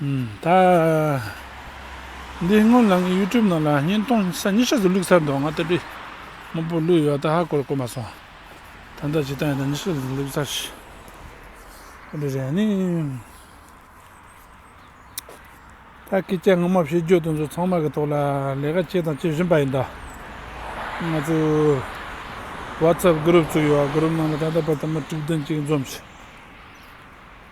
ད་འདི་སྔོན་ལང་གི YouTube ནང་ལ་ཉིན་སྟོང་ས་གཉིས་ཤག་ཏུ་བླུགས་ཚར་འདུག་ང་ལྟ་བུའི་དངོས་པོ་བླུགས་ཡོད་ད་ཧ་གོ་རེ་གོ་མ་སོང། ད་ལྟ་ཇི་ལྟར་ཡང་ད་ཉིན་ཤག་ཏུ་བླུགས་ཚར་ཞེས་གོ་རེ་རེད་ནི། ད་སྐད་ཆ་ངོ་མ་བཤད་རྒྱུ་དེ་ཚོ་ཚང་མ་གི་ཐོག་ལ་ལས་ཀ་བྱས་དང་བྱེད་བཞིན་པ་ཡིན་ད། ང་ཚོ Whatsapp group བཙུགས་ཡོད Group ནང་ལ་ད་ལྟ་བར་དུ་མི་དྲུག་བདུན་ཅིག་འཛོམས་ཤིང།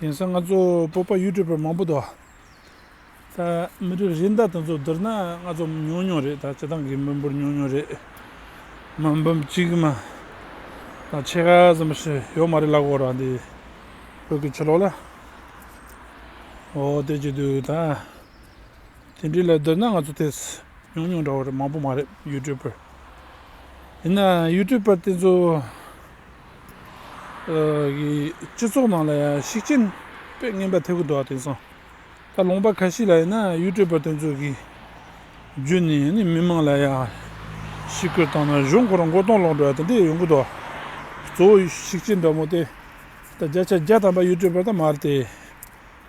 དེང་སང་ང་ཚོ་སྤོབས་པ་ཡུལ་གྲུ་པར་མང་པོ་འདུག་ད་མི་རིགས་རིགས་མཐའ་དང་ཚོགས་བསྡུར་ན་ང་ཚོ་ཉུང་ཉུང་རེད་ད་སྤྱི་བཏང་གི་མི་འབོར་ཉུང་ཉུང་རེད་མི་འབུམ་གཅིག་མ་དང་ཕྱེད་ཀ་ཙམ་ཞིག་ཡོད་མ་རེད་ལབ་དགོས་ར་འདི་བོད་ཀྱི་ཆོས་ལོག་ལ་འོ་དེ་ཅི་འདུག་ད་དེ་འདྲའི་ལ་བསྡུར་ན་ང་ཚོ་དེ་ཉུང་ཉུང་འདྲ་བོ་རེད་མང་པོ་མ་རེད་ཡུལ་གྲུ་པར་ཡིན་ན་ཡུལ་གྲུ་པར་དེ་ཚོ་སྤྱི་ཚོགས་ནང་ལ་ཡང་ཤུགས་རྐྱེན་དཔེ་ངན་པ་ཐེབས་ཀྱི་འདུག་དེང་སང། ད་ལུང་པ་ཁ་ཤས་ལ་ཡིན་ན་གཡུལ་སྤྲོད་པ་དེ་ཚོ་གིས་བརྒྱུད་ནས་ནི་མི་མང་ལ་ཡང་ཤི་གོད་བཏང་ན་གཞུང་སྒོ་ར་མགོ་སྟོང་སློག་འགྲོ་བ་དེ་འདྲས་ཡོང་གི་འདུག་གཙོ་བོ་ཤུགས་རྐྱེན་འདྲ་མོ་དེ་ད་བརྒྱ་ཆ་བརྒྱ་ཐམ་པ་གཡུལ་སྤྲོད་པ་དང་མ་རེད་དེ།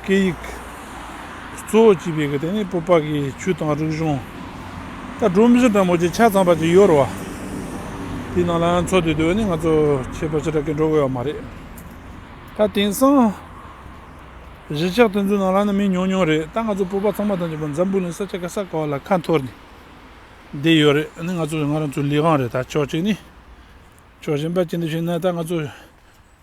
སྐད་ཡིག། གཙོ་བོ་བྱས་པའི་དེ་ནི་སྤོབས་པ་གི་ཆུ་དང་རིག་གཞུང། ད་སྒྲོན་མེ་ཟུང་འདྲ་མོ་ཆེ་ཆ་ཚང་བར་གྱི་ཡོད་རེད་བ། དེའི་ནང་ལའང་འཚོ་དུས་དེ་ནི་ང་ཚོ་ཁྱད་པར་ཅི་དྲག་གིས་འགྲོ་དགོས་ཡ་མ་རེད། ད་དེང་སང། གཞིས་ཆགས་དེ་ཚོའི་ནང་ལ་ནི་མི་ཉུང་ཉུང་རེད་ད་ང་ཚོ་སྤོབས་པ་ཚང་མ་དང་བཅས་པ་འཛམ་བུ་ལ་ས་ཆ་ག་ས་ག་བ་ལ་ཁ་འཐོར་ནས་བསྡད་ཡོད་རེད་ད་ནི་ང་ཚོ་ང་རང་ཚོའི་ལས་ཁང་རེད་ད་ཕྱོགས་གཅིག་ནས། ཕྱོགས་གཞན་པ་ཅི་འདྲ་བྱས་ན་ད་ང་ཚོ།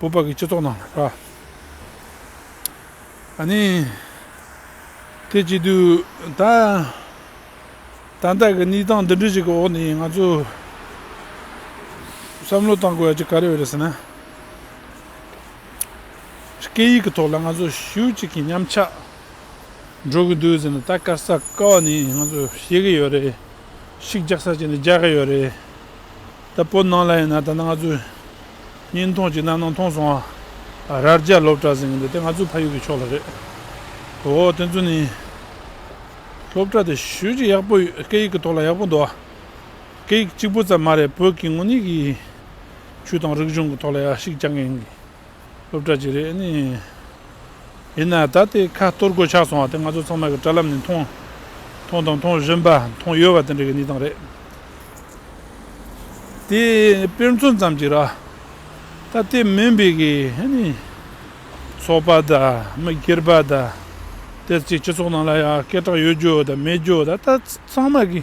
བོད་པ་གི་སྤྱི་ཚོགས་ནང་ལ་ཁ། ཨ་ནི། དེ་བྱས་དུས་ད། ད་ལྟ་གི་གནས་སྟངས་འདི་འདྲ་ཞིག་གི་འོག་ནས་ང་ཚོ། བསམ་བློ་བཏང་དགོས་ཡ་ཅིག་ག་རེ་རེད་ཟེར་ན། སྐད་ཡིག་གི་ཐོག་ལ་ང་ཚོ་ཤུགས་གཅིག་གིས་ཉམས་ཆག། འགྲོ་གི་འདུག་ཟེར་ན་ད་སྐར་ས་སྐར་བ་ནས་ང་ཚོ་ཤེས་ཀྱི་ཡོད་རེད། ཤིག་རྒྱག་ས་བྱས་ནས་རྒྱག་གི་ཡོད་རེད། ད་བོད་ནང་ལ་ཡིན་ན་ད་ང་ཚོས་གཉིས་མཐོང་གཅིག་སྣ་ནང་མཐོང་སོང་ཨ་རར་རྒྱ་ལོབས་གྲགས་ཟིན་གྱི་འདུག་དེ་ང་ཚོའི་ཕ་ཡུལ་གྱི་ཕྱོགས་ལ་རེད། འོ་དེ་ཚོ་ནི། སློབ་གྲྭ་དེ་ཤུལ་གྱི་ཡག་པོ་ཡོད་སྐད་ཡིག་གི་ཐོག་ལ་ཡག་པོ་འདུག་ཨ། སྐད་ཡིག་གཅིག་པུ་ཙམ་མ་རེད་བོད་ཀྱི་དངོས་གནས་ཀྱི། ཆོས་དང་རིག་གཞུང་གི་ཐོག་ལ་ཡག་ཤིག་རྐྱང་གི་ཡིན་གྱི། སློབ་གྲྭ་གཅིག་རེད། ཡིན་ན་ད་ལྟའི་ཁ་གཏོར་གོད་ཆག་སོང་བ་དེ་ང་ཚོ་ཚང་མ་གི་དྲ་ལམ་ནས་མཐོང། མཐོང་དང་མཐོང་བཞིན་པ་མཐོང་ཡོད་པ་དེ་འདྲ་གི་གནས་སྟངས་རེད། དེ་དཔེར་མཚོན་ཙམ་གཅིག་ར། ད་ལྟའི་མོན་པི་གི་ཚོགས་པ་དང་མི་སྒེར་པ་དང། དེར་གཅིག་སྤྱི་ཚོགས་ནང་ལ་ཡང་སྐད་གྲགས་ཡོད་རྒྱུ་དང་མེད་རྒྱུ་ད་ལྟ་ཚང་མ་གི།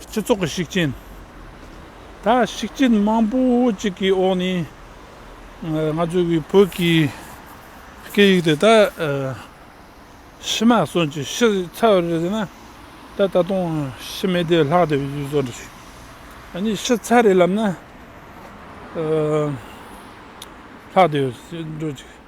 སྤྱི་ཚོགས་ཀྱི་ཤུགས་རྐྱེན། ད་ཤུགས་རྐྱེན་མང་པོ་ཅིག་གི་འོག་ནས། ང་ཚོ་བོད་བོད་ཀྱི་སྐད་ཡིག་དེ་ད། ཕྱི་མ་སོན་ཅིག་ཕྱི་ཚ་བ་རེད་ཟེར་ན། ད་ད་དུང་ཕྱི་མའི་དེ་ལྷག་དེ་བཟོ་འདྲ་བྱོས། ཨ་ནི་ཕྱི་ཚ་རེད་ལབ་ན། ལྷག་དེ་བཟོ་འགྲོ་ཅིག།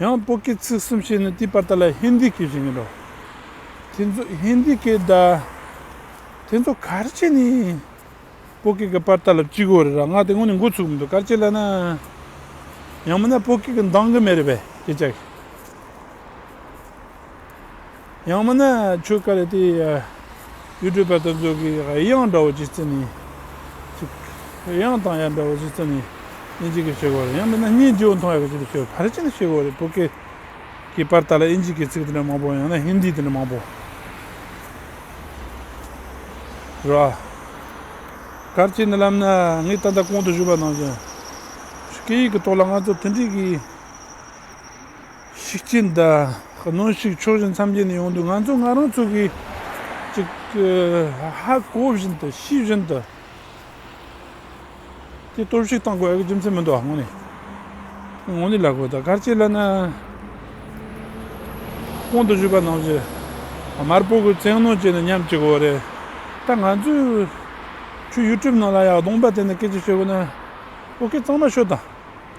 ཡང་པོ་ཀི་ཚིག་གསུམ་ཤེས་ནི་དེའི་པར་ཏཱ་ལའི་ཧིན་དི་ཀི་ཞེས་ཡིན་རོ། དེ་ཚོ་ཧིན་དི་ཀི་ད། དེ་ཚོ་གར་བྱེད་ནི། པོ་ཀི་ཀི་པར་ཏཱ་ལ་བཅུག་གོ་རེད་ར་ང་དེ་སྔོན་ནས་མགོ་ཚུགས་མི་འདུག་གར་བྱེད་ལ་ན། ཡང་མིན་ན་པོ་ཀི་ཀི་འདང་གི་མེད་རེད་པས་ཀི་ཅག་གི། ཡང་མིན་ན་ཆོས་དཀའ་ལས་དེ་ཡུལ་སྤྲོས་པ་དང་མཛོད་ཀྱི་དབྱངས་འདྲ་བོ་ཅིག་བརྩི་ནས། དབྱངས་དང་ཡང་འདྲ་བོ་ཅིག་བརྩི་ནས་ཨིན་ཇི་ཀི་ཞེས་གོ་རེ། ཡང་མིན་ན་སྙན་རྗེ་བོ་མཐོང་ཡག་གི་ཅིག་ཞེས་བར་ཆད་ཞེས་གོ་རེ་བོད་སྐད་ཀྱི་བར་དག་ལ་ཨིན་ཇི་ཀི་ཚིག་དེ་འདྲ་མང་པོ་ཡང་ན་ཧིན་དི་དེ་འདྲ་མང་པོ་རོ། གར་བྱེད་ནི་ལམ་ནི་ངས་ད་ལྟ་གོང་དུ་བཞུགས་པ་ནང་བཞིན། སྐད་ཡིག་གི་ཐོག་ལ་ང་ཚོ་མཐུན་སྒྲིལ་གྱིས། ཤིག་ཅི་འདྲ་གནང་ཞིག་ཕྱོགས་བཞི་མཚམས་བརྒྱད་ནས་ཡོང་དུས་ང་ཚོ་ང་རང་ཚོ་གིས་ཅིག་ཧ་གོ་བཞིན་དུ་ཤེས་བཞིན་དུ་དེ་སྟོབས་ཤིག་བཏང་དགོས་ཨ་ཁུ་རྒྱུ་མཚན་མི་འདུག་ཨ་ངོ་ནི་ངོ་ནི་ལ་གོ་ད་གར་ཆེ་ལ་ན་ཁོང་དུ་བཞུགས་པ་ནང་བཞིན་མར་སྤོ་དགོས་བཙན་གནང་བྱས་ནས་ཉམས་ཅིག་འོ་རེད་ད་ང་ཚོས་ཁྱོད་ཡུ་ཏྲུབ་ནང་ལ་ཡག་གདོང་པ་དེ་ནས་སྐད་ཅིག་ཤོད་དགོས་ན་ཨོ་ཁེ་གཙང་མ་ཤོད་དང།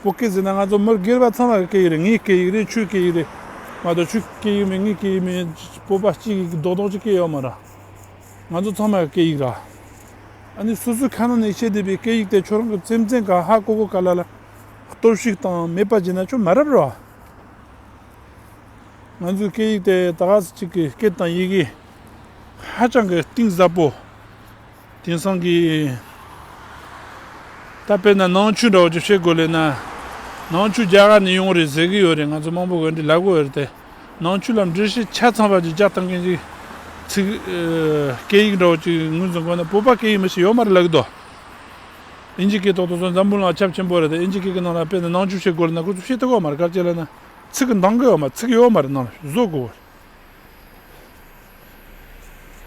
བོད་སྐད་ཟེར་ན་ང་ཚོ་མིར་སྒེར་པ་ཚང་མ་གི་སྐད་ཡིག་རེད་ངའི་སྐད་ཡིག་རེད་ཁྱོའི་སྐད་ཡིག་རེད་མ་གཏོགས་ཁྱོའི་སྐད་ཡིག་མིན་ངའི་སྐད་ཡིག་མིན་བོད་པ་གཅིག་གི་རྡོག་རྡོག་གཅིག་སྐད་ཡོད་མ་ར། ང་ཚོ་ཚང་མ་གི་སྐད་ཡིག་ར། ཨ་ནི་སོ་སོའི་ཁ་ན་ནས་ཤེས་བསྡད་པའི་སྐད་ཡིག་དེ་ཁྱོད་རང་གི་སེམས་ཅན་ག་ཧ་ཀོ་ཀོ་ག་ལ་ལ་གཏོར་བཤིག་དང་མེད་པ་བྱས་ན་ཁྱོད་མ་རབས་ར། ང་ཚོའི་སྐད་ཡིག་དེ་ད་ག་ཟེ་གཅིག་གི་སྐད་དང་ཡི་གེ་ཧ་ཅང་གི་གཏིང་ཟབ་པོ་དེང་སང་གི། ད་དཔེར་ན་ནང་ཆོས་འདྲ་བོ་ཅིག་བཤད་དགོས་ལེ་ན། ནང་ཆོས་རྒྱ་གར་ནས་ཡོང་བ་རེད་ཟེར་གི་ཡོད་རེད་ང་ཚོ་དམངས་པོ་འོད་འདི་ལབ་གི་འོད་རེད་དེ། ནང་ཆོས་ལ་འབྲི་ཤེས་ཆ་ཚང་བ་ཅིག་རྒྱག་བཏང་མཁན་ཅིག། ཚིག། སྐད་ཡིག་འདྲ་བོ་ཅིག་ངོས་འཛིན་དགོས་ན་བོད་པ་སྐད་ཡིག་མི་ཞིག་ཡོད་མ་རེད་ལབ་གི་འདུག། ཨིན་ཇི་སྐད་ཐོག་ཏུ་སོང་འཛམ་བུ་ལང་ཁྱབ་ཆེན་པོ་རེད་དེ་ཨིན་ཇི་སྐད་ཀྱི་ནང་ལ་དཔེར་ན་ནང་ཆོས་བཤད་དགོས་ལེ་ན་ཁོ་ཚོ་བཤད་ཐུབ་གི་ཡོད་མ་རེད་སྐར་ཆ་ལེ་ན། ཚིག་གི་འདང་གི་ཡོད་མ་རེད་ནང་ལ་བཟོ་དགོས་གི་ཡོད་རེད།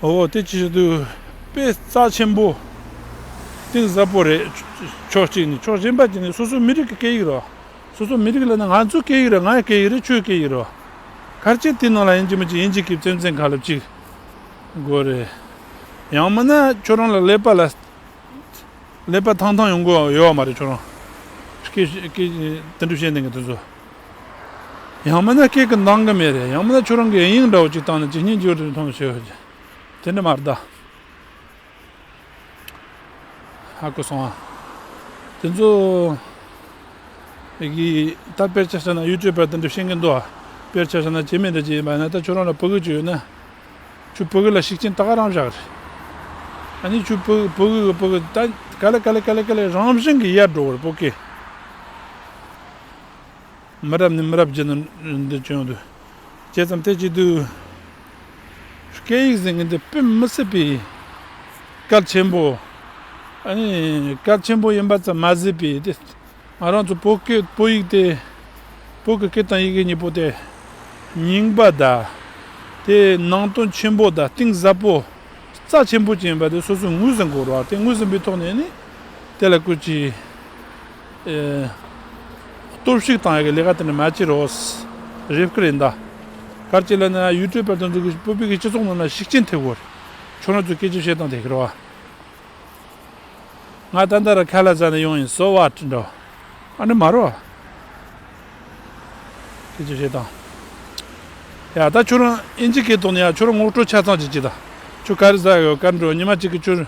འོ་དེ་ཅི་ཞིག་འདུག་དཔེ་རྩ་ཆེན་པོ། གཏིང་ཟབ་པོ་རེད། ཕྱོགས་གཅིག་ནས་ཕྱོགས་གཞན་པ་ཅིག་ནས་སོ་སོའི་མི་རིགས་ཀྱི་སྐད་ཡིག་རེད། སོ་སོའི་མི་རིགས་ལ་ནི་ང་ཚོའི་སྐད་ཡིག་རེད་ང་ཡི་སྐད་ཡིག་རེད་ཁྱོའི་སྐད་ཡིག་རེད། ཁར་ཅིག་དེའི་ནང་ལ་ཡིན་གཅིག་མིན་གཅིག་ཡིན་གཅིག་གིས་བཙན་བཙན་ག་ལ་གཅིག་དགོས་རེད། ཡང་མིན་ན་ཁྱོད་རང་ལ་ཀླད་པ་ལ་ཀླད་པ་ཐང་ཐང་ཡོང་གི་ཡོད་མ་རེད་ཁྱོད་རང་སྐད་སྐད་དེ་འདྲ་བཤད་འདེང་གི་དེ་ཚོ། ཡང་མིན་ན་སྐད་ཀྱི་འདང་གི་མེད་རེད་ཡང་མིན་ན་ཁྱོད་རང་གིས་ཨེ་ཡིན་འདྲ་བོ་ཅིག་བཏང་ནས་ཇི་སྙེད་འགྱུར་དེ་མཐོང་ཞེས་ཞུས། དེ་འདྲ་མ་གདའ། ཧ་གོ་སོང་ཨ། དེ་ཚོ་གིས་ད་དཔེར་བྱ་ཟེར་ན་ཡུལ་གྱོད་པ་དེ་འདྲ་ཤེས་ཀྱི་འདུག་ཨ། དཔེར་བྱ་ཟེར་ན་བྱེད་མི་འདྲ་ཅིག་ཡིན་པ་ཡིན་ན་ད་ཁྱོད་རང་ལ་བོད་གོས་ཅིག་ཡོད་ན། ཁྱོད་བོད་གོས་ལ་ཤུགས་རྐྱེན་ད་ག་རང་བཞག་རེད། ཨ་ནི་ཁྱོད་བོད་བོད་གོས་བོད་གོས་ད་ག་ལེ་ག་ལེ་ག་ལེ་ག་ལེ་རང་བཞིན་གྱིས་ཡལ་འགྲོ་བར་བོད་སྐད། མི་རབས་ནས་མི་རབས་བརྒྱུད་ནས་འདི་བྱུང་དུས། བྱས་ཙམ་ཐལ་གཅིག་དུས། སྐད་ཡིག་ཟེར་མཁན་དེ་དཔེ་མི་སྲིད་པའི་སྐལ་ཆེན་པོ། སྐལ་ཆེན་པོ་ཡིན་པ་ཙམ་མ་ཟད་པའི་དེ་ང་རང་ཚོ་བོད་སྐད་བོད་ཡིག་དེ། བོད་ཀྱི་སྐད་དང་ཡི་གེ་གཉིས་པོ་དེ། རྙིང་པ་དང། དེ་ནང་དོན་ཆེན་པོ་དང་གཏིང་ཟབ་པོ། རྩ་ཆེན་པོ་ཅན་ཡིན་པ་དེ་སོ་སོས་ངོས་ཟིན་དགོས་རོགས་དེ་ངོས་ཟིན་པའི་ཐོག་ནས་ནི། དེ་ལ་སྐུལ་ཅིག། གཏོར་བཤིག་དང་ལས་ཀ་དེ་ནི་མ་བྱེད་རོགས། རེབ་ཀི་རེད་མདའ། གར་སྐྱེ་ལ་ནི་ཡུལ་གྲོལ་དཔལ་དུ་འཛུགས་དགོས་ཤིང་བོད་པའི་སྤྱི་ཚོགས་རྣམས་ལ་ཤུགས་རྐྱེན་ཐེབས་དགོས། ཁྱོད་རང་ཚོས་སྐད་ཆ་བཤད་སྟངས་དེ་ཁེར་བ། ང་ད་ལྟ་ར་ཁ་ལ་ཟ་ནས་ཡོང་ཡིན་སོ་བ་འདྲ། ཨ་ནི་མ་རོ། སྐད་ཆ་བཤད་སྟངས། ཡ་ད་ཁྱོད་རང་ཨིན་ཇི་སྐད་དོགས་ནས་ཡ་ཁྱོད་རང་ངོ་སྤྲོད་ཆ་ཚང་བྱེད་ཀྱི་དང། ཁྱོད་ག་རེ་ཟ་ཡོད་གར་འགྲོ་ཉི་མ་གཅིག་གིས་ཁྱོད།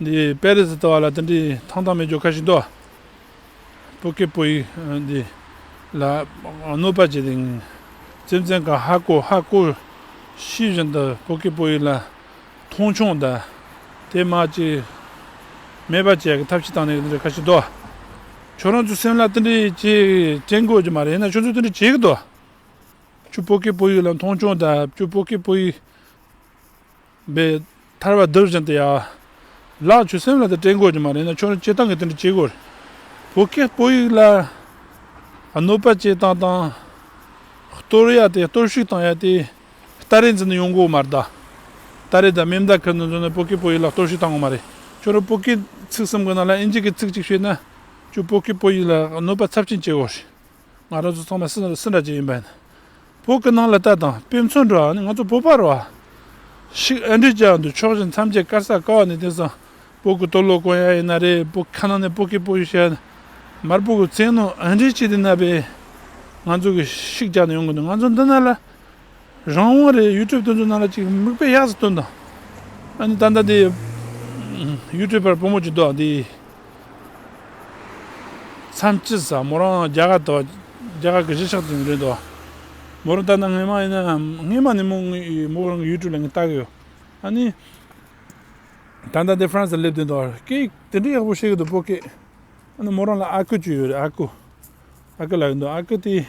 འདི་པེ་རི་སི་ལྟ་བ་ལ་དེ་འདྲའི་ཐང་ཐང་མེད་རྒྱུ་ཁ་ཞིག་འདུག་སྤུ་ཀེ་པོ་ཡིས་འདི་ལ་གནོད་པ་བྱས་ཏེ་སེམས་ཅན་གང་ཧ་གོ་ཧ་གོ་ཤེས་བཞིན་དུ་སྤུ་ཀེ་པོ་ཡིས་ལ་མཐོང་ཆུང་དང་དེ་མ་གཅིག་སྨད་པ་བྱས་ཀྱི་ཐབས་ཤིག་བཏང་ནས་དེ་འདྲའི་ཁ་ཞིག་འདུག་ཁྱོད་རང་ཚོའི་སེམས་ལ་དེ་འདྲའི་ཅི་དྲན་དགོས་ཀྱི་མ་རེད་ཡིན་ན་ཁྱོད་ཚོས་དེ་འདྲ་བྱེད་ཀྱི་འདུག་ཁྱོད་སྤུ་ཀེ་པོ་ཡིས་ལ་མཐོང་ཆུང་དང་ཁྱོད་སྤུ་ཀེ་པོ་ཡིས། པའི། ཐར་བ་སྡུག་ཅིང་དེ་ཡང། ལགས་ཁྱོད་སེམས་ལ་དེ་སྤྲད་དགོས་ཀྱི་མ་རེད་ན་ཁྱོད་རང་སྤྱི་བཏང་གིས་དེ་འདྲ་བྱེད་དགོས་རེད། བོད་སྐད་སྤོ་ཡིག་ལ། གནོད་པ་སྤྱད་སྟངས་དང། གཏོར་ཡ་དེ་གཏོར་བཤིག་བཏང་ཡ་དེ། སྟ་རེ་འཛིན་ནས་ཡོང་དགོས་མ་རེད། སྟ་རེ་དང་མིམ་བརྡ་ཁུར་ནས་འཛོལ་ནས་བོད་སྐད་སྤོ་ཡིག་ལ་གཏོར་བཤིག་བཏང་དགོས་མ་རེད། ཁྱོད་རང་བོད་སྐད་ཚིག་གསུམ་གི་ནང་ལ་ཨིན་ཇི་སྐད་ཚིག་གཅིག་ཤེས་ན། ཁྱོད་བོད་སྐད་སྤོ་ཡིག་ལ་གནོད་པ་ཚབས་ཆེན་སྤྱད་དགོས་རེད། ང་རང་ཚོ་ཚང་མ་སེ་སེ་འདྲ་ཅན་ཡིན་པ་ཡིན། བོད་ཀྱི་ནང་ལ་ལྟ་དང་དཔེ་མཚོན་འགྲོ་ཨ་ནི་ང་ཚོ་བོད་པར་བ། ཤིག་ཨ་འདྲི་ཅག་འདུག་ཕྱོགས་ཞེན་མཚམས་བཅད་དཀར་ས་ཀ་བ་ནི་དེང་སང་བོད་ཀྱི་སྟོད་ལོག་དཀོན་ཡ་ཡིན་ན་རེད་བོད་ཁ་ནང་ནས་བོད་སྐད་པོ་ཡོད་ཤག་ཡིན་ན་མར་བོད་ཀྱི་བཙན་ནོ་ཨ་འདྲི་བྱེད་དེ་ན་བས། ང་ཚོ་གི་ཤིག་ཅག་ནི་ཡོང་གི་འདུག་ང་ཚོ་འདི་ན་ལ་རང་དབང་རེད་ཡུལ་གྲུབ་སྟོན་ཚུལ་རྣམས་ལ་ཅིག་མིག་དཔེ་གཡག་སེ་སྟོན་དང། ཨ་ནི་ད་ལྟ་འདི། ཡུལ་གྲུབ་པར་བུ་མོ་གཅིག་འདུག་འདི། མཚམས་ཅི་ཟ་མོ་རང་རྒྱ་གར་དུ། རྒྱ་གར་གྱི་གཞིས་ཆགས་དེ་འདྲས་འདུག། མོ་རང་ད་ལྟ་ངེད་མ་ཡིན་ན། ངེད་མ་ནི་མོ་མོ་རང་གི་ཡུལ་གྲུབ་ལ་ངས་བལྟ་གི་ཡོད། ཨ་ནི། ད་ལྟ་འདི་ཧྥ་རན་སིར་སླེབས་དོན་དུ། སྐད་དེ་འདྲས་ཡག་པོ་བཤད་གི་འདུག་བོད་སྐད། ཨ་ནི་མོ་རང་ལ་ཨ་ཁུ་བཅུ་ཡོད་རེད་ཨ་ཁུ། ཨ་ཁུ་ལགས་ཡིན་འདུག་ཨ་ཁུ་དེ།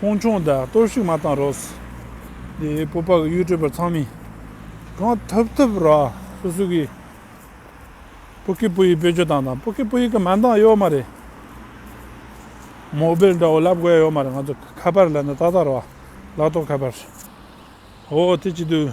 ཁོང་ཆུང་དང་གཏོར་བཤིག་མ་བཏང་རོགས། དེ་སྤོབས་པ་གི་གཡུལ་སྤྲོད་པར་ཚང་མས། གང་ཐུབ་ཐུབ་རོགས་སོ་སོ་གི། སྤུ་ཁེ་སྤུ་ཡིས་བེད་སྤྱོད་བཏང་དང་སྤུ་ཁེ་སྤུ་ཡིས་གི་མ་འདང་ཡོད་མ་རེད། མོ་སྦེལ་འདྲ་བོ་ལབ་དགོས་ཡོད་མ་རེད་ང་ཚོ་ཁ་པར་ལ་ནི་ཏག་ཏག་རོགས། ལག་ཏོག་ཁ་པར། ཧོ་དེ་ཅི་དུས།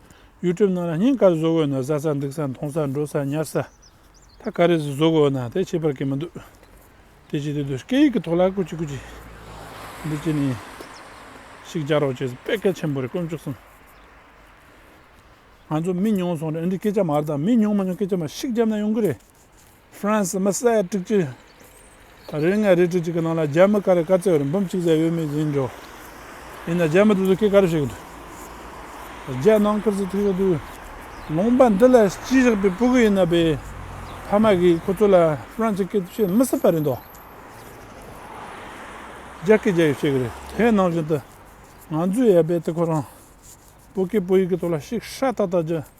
ཡུལ་གྲུབ་རྣམས་ལ་སྙིང་གར་བཟོ་དགོས་ན་བཟའ་ས་འདུག་ས་འཐུང་ས་འགྲོ་ས་ཉར་ས་ད་ག་རེ་ཟིག་བཟོ་དགོས་ན་དེ་བྱེད་པར་གི་མི་འདུག་དེ་བྱེད་དེ་འདུག་སྐད་ཡིག་གི་ཐོག་ལ་ཀུ་ཅི་ཀུ་ཅི་འདི་བྱེད་ནི་ཞིག་རྒྱག་རོགས་བྱེད་དཔེ་གལ་ཆེན་པོ་རེད་དཀོན་མཆོག་གསུམ་ང་ཚོ་མི་ཉུང་སོང་རེད་འདི་སྐད་ཆ་མར་དང་མི་ཉུང་མ་ཉུང་སྐད་ཆ་མ་ཞིག་རྒྱབ་ན་ཡོང་གི་རེད། ཧྥ་རན་སི་མི་གསལ་དཀྲུག་རྒྱུ། རེ་ལྔའི་རེ་དྲུག་ཅིག་གི་ནང་ལ་རྒྱ་མི་ཀ་རེ་བཀའ་བཙན་འོས་འབུམ་གཅིག་བཟའ་ཡོད་མེད་ཡིན་འགྲོ། ཡིན་ན་རྒྱ་མི་དེ་ཚོ་སྐད་ག་རེ་བཤད་གི་འདུག། རྒྱལ་ནང་ཁུལ་གྱི་ཐུགས་ཤོག་དུས་ལུང་པ་འདི་ལ་སྤྱི་བཞག་པའི་སྤུ་གུ་ཡིན་ན་པའི་ཕ་མ་གིས་ཁོ་ཚོ་ལ་ཧྥ་རན་སི་སྐད་དུ་བཤད་མི་སྲིད་པ་རེད་འདོད། རྒྱ་སྐད་རྒྱ་ཡིག་བཤད་གི་རེད་དེ་ནང་བཞིན་དུ་ང་ཚོས་ཡ་རྦད་དེ་ཁོ་རང་སྤུ་གུས་སྤུ་ཡིག་གི་ཐོག་ལ་ཤིག་ཧྲ་ཏག་ཏག་རྒྱུ།